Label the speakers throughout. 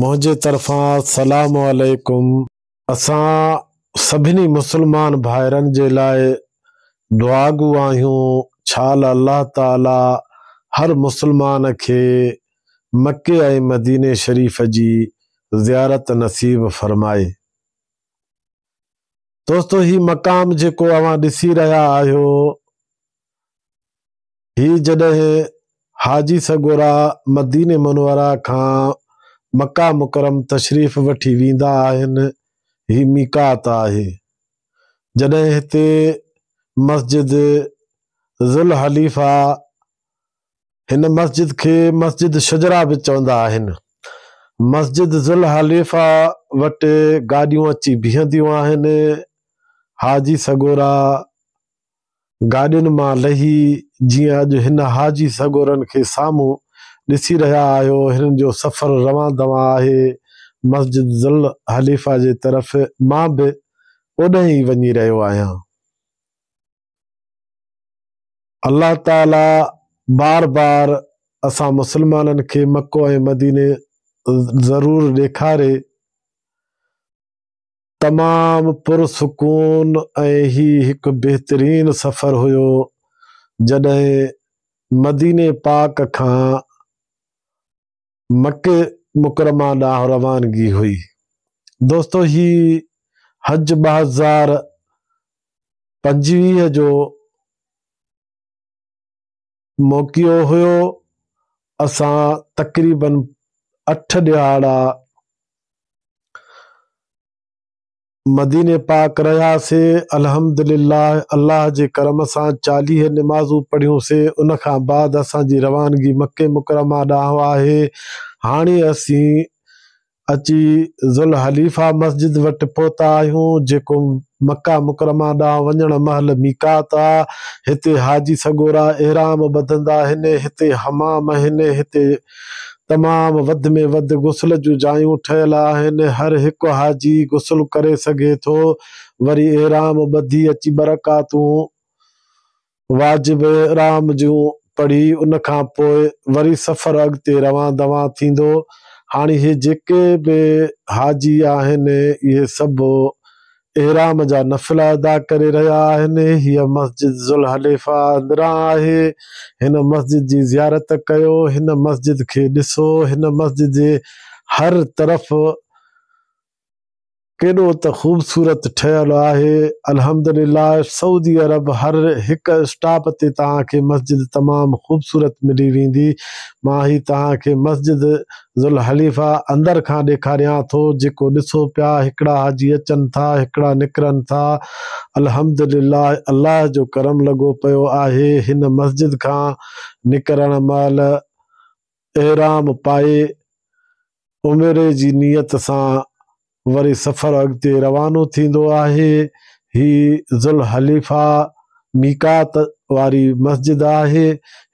Speaker 1: منهنجي طرفان سلام عليڪم. اسان سڀني مسلمان ڀائرن جي لاء دعاگو آهيون ڇال الله تعالي هر مسلمان کي مڪي ۽ مديني شريف جي زيارت نصيب فرمائي دوستو هي مقام جيڪو اوهان ڏسي رهيا آهيو هي جڏهن حاجي سڳورا مديني منوره کان مڪه مڪرم تشريف وٺي ويندا آهن، هي ميقات آهي، جڏهن هتي مسجد ذوالحليفه، هن مسجد کي مسجد شجره به چوندا آهن، مسجد ذوالحليفه وٽ گاڏيون اچي بيهنديون آهن، حاجي سڳورا گاڏين مان لهي جيئن اڄ هن حاجي سڳورن کي سامهون ڏسي رهيا آهيو، هنن جو سفر روان دوان آهي، مسجد ذوالحليفه جي طرف مان به اوڏانهن ئي وڃي رهيو آهيان. الله تعاليٰ بار بار اسان مسلمانن کي مڪو ۽ مديني ضرور ڏيکاري. تمام پرسڪون ۽ هي هڪ بهترين سفر هيو جڏهن مديني پاڪ کان مڪي مڪرمه ڏانهن روانگي هئي دوستو هي حج ٻه هزار پنجويهه جو موقعو هيو اسان تقريبا اٺ ڏهاڙا مديني پاڪ رهياسي الحمدلله الله جي ڪرم سان چاليهه نمازون پڙهيونسي ان کان بعد اسان جي روانگي مڪي مڪرمه ڏانهن آهي هاڻي اسين اچي ذوالحليفه مسجد وٽ پهتا آهيون، جيڪو مڪه مڪرمه ڏانهن وڃڻ مهل ميقات آ. هتي حاجي سڳورا احرام ٻڌندا آهن. هتي حمام آهن. هتي تمام وڌ ۾ وڌ غسل جون جايون ٺهيل آهن. هر هڪ حاجي غسل ڪري سگهي ٿو. وري احرام ٻڌي اچي ٻه رڪعتون. واجب رام جون پڙهي ان کان پوء وري سفر اڳتي روان دوان ٿيندو. هاڻي هي جيڪي به حاجي آهن اهي سڀ احرام جا نفلا ادا ڪري رهيا آهن. هيء مسجد ذوالحليفه اندران آهي. هن مسجد جي زيارت ڪيو. هن مسجد کي ڏسو. هن مسجد جي هر طرف ڪيڏو ته خوبصورت ٺهيل آهي الحمدلله سعودي عرب هر هڪ اسٽاپ تي توهان کي مسجد تمام خوبصورت ملي ويندي مان هي توهان کي مسجد ذوالحليفه اندر کان ڏيکاريان ٿو جيڪو ڏسو پيا هڪڙا حاجي اچن ٿا هڪڙا نڪرن ٿا الحمدلله الله جو ڪرم لڳو پيو آهي هن مسجد کان نڪرڻ مهل احرام پائي عمري جي نيت سان وري سفر اڳتي روانو ٿيندو آهي. هي ذوالحليفه ميقات واري مسجد آهي.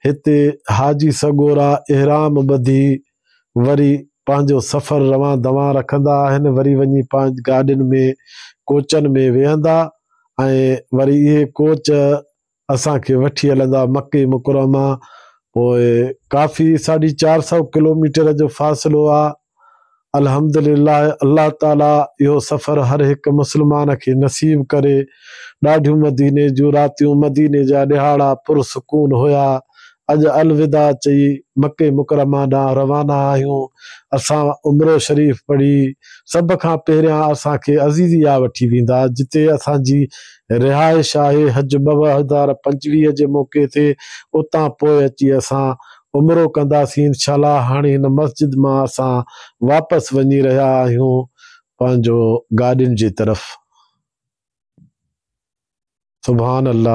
Speaker 1: هتي حاجي سڳورا احرام ٻڌي وري پنهنجو سفر روان دوان رکندا آهن وري وڃي پنهنج گاڏين ۾ ڪوچن ۾ ويهندا ۽ وري اهي ڪوچ اسان کي وٺي هلندا مڪي مڪرمه پوء ڪافي ساڍي چار سؤ ڪلوميٽر جو فاصلو آ الحمد لله الله تعالي اهو سفر هر هڪ مسلمان کي نصيب ڪري ڏاڍيون مديني جون راتيون مديني جا ڏهاڙا پر سڪون هيا اڄ الوداع چئي مڪه مڪرمه ڏانهن روانا آهيون. اسان عمرو شريف پڙهي سڀ کان پهريان اسان کي عزيزي آ وٺي ويندا جتي اسان جي رهائش آهي حج ٻه هزار پنجويهه جي موقعي تي اتان پوء اچي اسان عمرو ڪنداسين انشاءالله هاڻي هن مسجد مان اسان واپس وڃي رهيا آهيون پنهنجو گاڏين جي طرف سبحان الله.